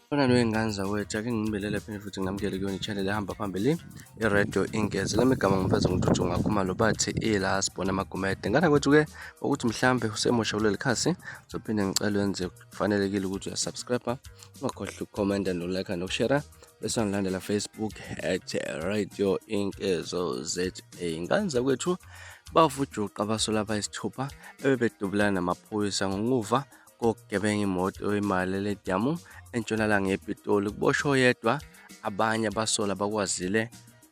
Fana noyingane zakwethu ake nginibelele phinde futhi nginamukele kuyona i-channel ehamba phambili i-radio ingezi lami igama ngimfeza ngintuthu ngakhuma lo bathi ila sibona amagumede ngana kwethu-ke ukuthi mhlambe usemusha kuleli khasi zophinde ngicela wenze kufanelekile ukuthi uyasubscribe ungakhohlwa ukukhomenta nolike nokushera bese ngilandela Facebook at radio inkezo za ngane zakwethu bavujuqa abasola abayisithupha ebebedubulana namaphoyisa ngokuva kokugebenga imoto oyimali lediyamu entshonalanga yepitoli kuboshwe oyedwa abanye abasola bakwazile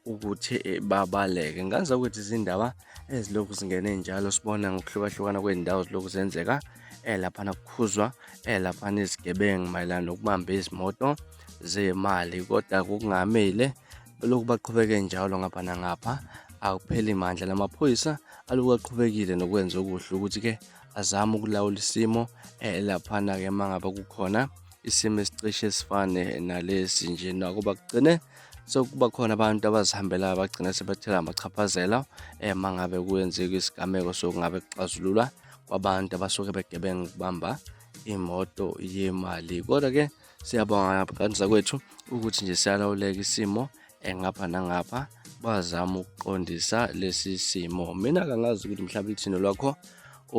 ukuthi eh, babaleke ngazi ukuthi izindaba ezilokhu zingene njalo sibona ngokuhlukahlukana kwey'ndawo zilokhu zenzeka eh, laphana kukhuzwa eh, laphana izigebengu mayelana nokubamba izimoto zemali kodwa kungamile lokhu baqhubeke njalo ngapha nangapha akupheli mandla lamaphoyisa alokhu aqhubekile nokwenza okuhle ukuthi-ke azame ukulawula isimo eh, laphana-ke uma ngabe kukhona isimo esicishe esifane nalesi nje nakuba kugcine so kuba khona abantu abazihambelayo bagcina sebathela amachaphazela um uma ngabe kuyenzeka isigameko sokungabe kuxazululwa kwabantu abasuke begebenga ukubamba imoto yemali kodwa-ke siyabonga kanisa kwethu ukuthi nje siyalawuleka isimo engapha nangapha bazama ukuqondisa lesi simo mina kangazi ukuthi mhlawumbe ithini lwakho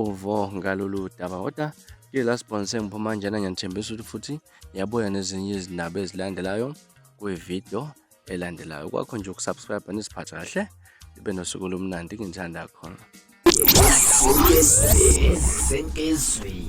uvo ngalolu daba kodwa ke last bonse ngiphuma njena ngiyanithembisa ukuthi futhi ngiyabuya nezinye izindaba ezilandelayo kwividiyo elandelayo kwakho nje ukusubscribe nisiphatha kahle ibe nosuku olumnandi ngithanda khona Sentezweni.